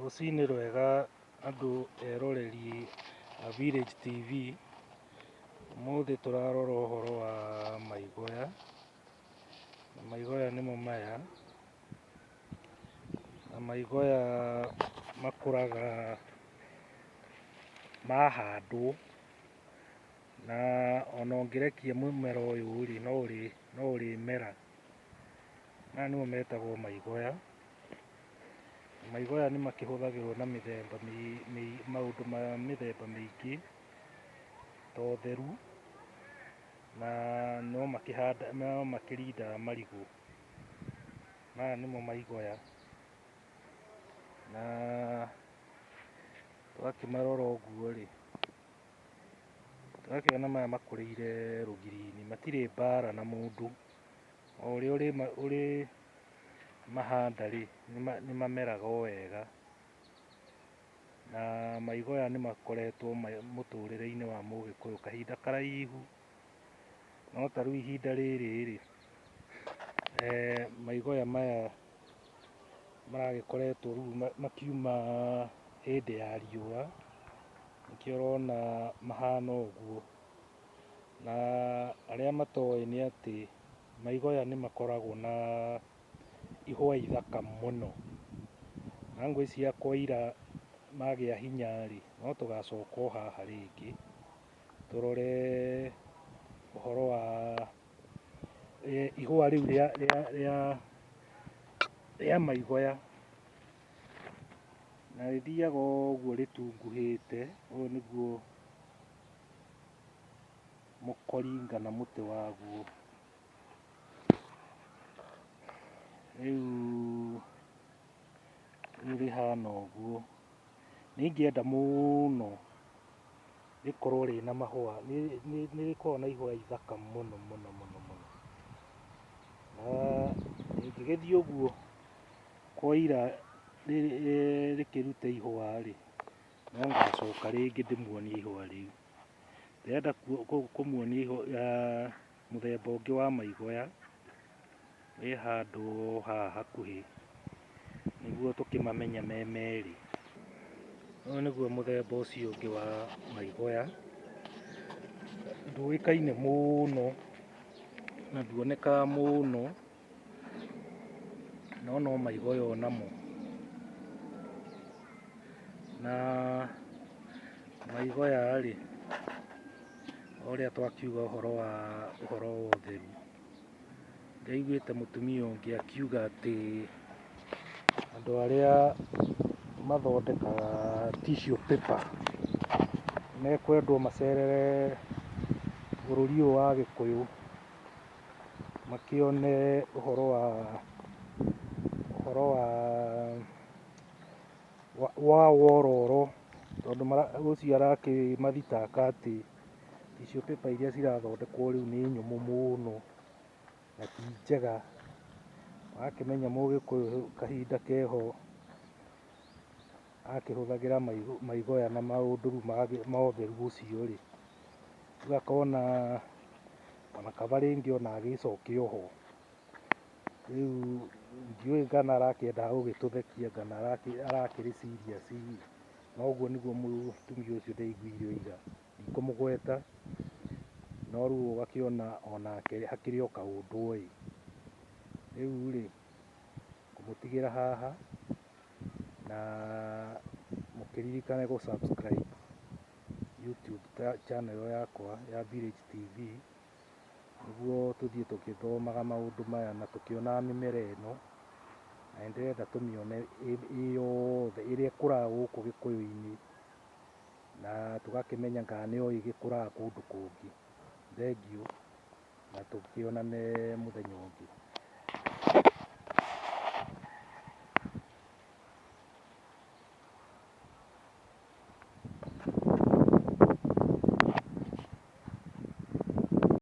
Rũcinĩ rwega andũ eroreri a Village TV, ũmũthĩ tũrarora ũhoro wa maigoya, na maigoya nĩmo maya, na maigoya makũraga mahandwo, na ona ũngĩrekia mũmera ũyũ rĩ, no ũrĩmera. Maya nĩmo metagwo maigoya. Maigoya nĩ makĩhũthagĩrwo na mĩthemba maũndũ ma mĩthemba mĩingĩ ta ũtheru na no makĩrindaga marigũ. Maya nĩmo maigoya na ũgakĩmarora ũguo rĩ... Ndĩrakĩona maya makũrĩire rũgiri-inĩ matirĩ mbara na mũndũ, o ũrĩa ũrĩmahanda rĩ nĩ mameraga o wega na maigo aya nĩ makoretwo mũtũrĩre-inĩ wa mũgĩkũyũ kahinda karaihu. no ta rĩu ihinda rĩrĩ rĩ eh, maigoya maya maragĩkoretwo rĩu makiuma hĩndĩ ya riũa nĩkĩo ũrona mahana ũguo na arĩa matoĩ nĩ atĩ maigoya nĩ makoragwo na ihũa ithaka mũno na ngwĩciria kwa ira magĩa hinya rĩ no tũgacoka o haha rĩngĩ tũrore ũhoro wa eh, ihũa rĩu rĩa rĩa rĩa rĩa maigoya na rĩthiaga ũguo rĩtunguhĩte ũyũ nĩguo mũkoringa na mũtĩ waguo rĩu Rĩu rĩhana ũguo. Nĩ ingĩenda mũno rĩkorwo rĩna mahũa, nĩ nĩ- nĩ rĩkoragwo na ihũa ithaka mũno mũno mũno mũno. Na rĩngĩgĩthiĩ ũguo kwaira rĩ- rĩ- rĩkĩrute ihũa rĩ, no ngacoka rĩngĩ ndĩmuonie ihũa rĩu. Ndĩrenda kuo- kũ- kũmuonia ihũa Mũthemba ũngĩ wa maigoya wĩ handũ haha hakuhĩ nĩguo tũkĩmamenye me merĩ. Ũyũ nĩguo mũthemba ũcio ũngĩ wa maigoya, ndũĩkaine mũno na nduonekaga mũno no no maigoyo namo na maigoya rĩ ũrĩa twakiuga ũhoro wa ũhoro wa ũtheru ngaiguĩte mũtumia ũngĩ akiuga atĩ andũ arĩa mathondekaga tissue paper mekwendwo macerere bũrũri ũyũ wa gĩkũyũ makĩone ũhoro wa, ũhoro wa, wa wororo tondũ ũcio arakĩmathitanga atĩ tissue paper iria cirathondekwo rĩu nĩ nyũmũ mũno na ti njega. Ũrakĩmenya mũgĩkũyũ kahinda keho akĩhũthagĩra maigoya na maũndũ rĩu ma ũtheru ũcio rĩ. rĩu akona ona kaba rĩngĩ ona agĩcokia oho rĩu ndiũĩ ngana arakĩenda gũgĩtũthekia ngana arakĩrĩ serious na ũguo nĩguo mũtumia ũcio ndaiguire ũira ndikũmũgweta no rĩu ũgakĩona onake hakĩrĩ o kaũndũ oĩ rĩu rĩ ngũmũtigĩra haha na mũkĩririkane gũ subscribe YouTube channel yakwa ya Village TV nĩguo tũthiĩ tũgĩthomaga maũndũ maya na tũkĩonaga mĩmera ĩno na nĩ ndĩrenda tũmĩone ĩ yothe ĩrĩa ĩkũraga gũkũ gĩkũyũ-inĩ na tũgakĩmenya kana no ĩgĩkũraga kũndũ kũngĩ. Thengiũ. na tũkĩonane mũthenya ũngĩ.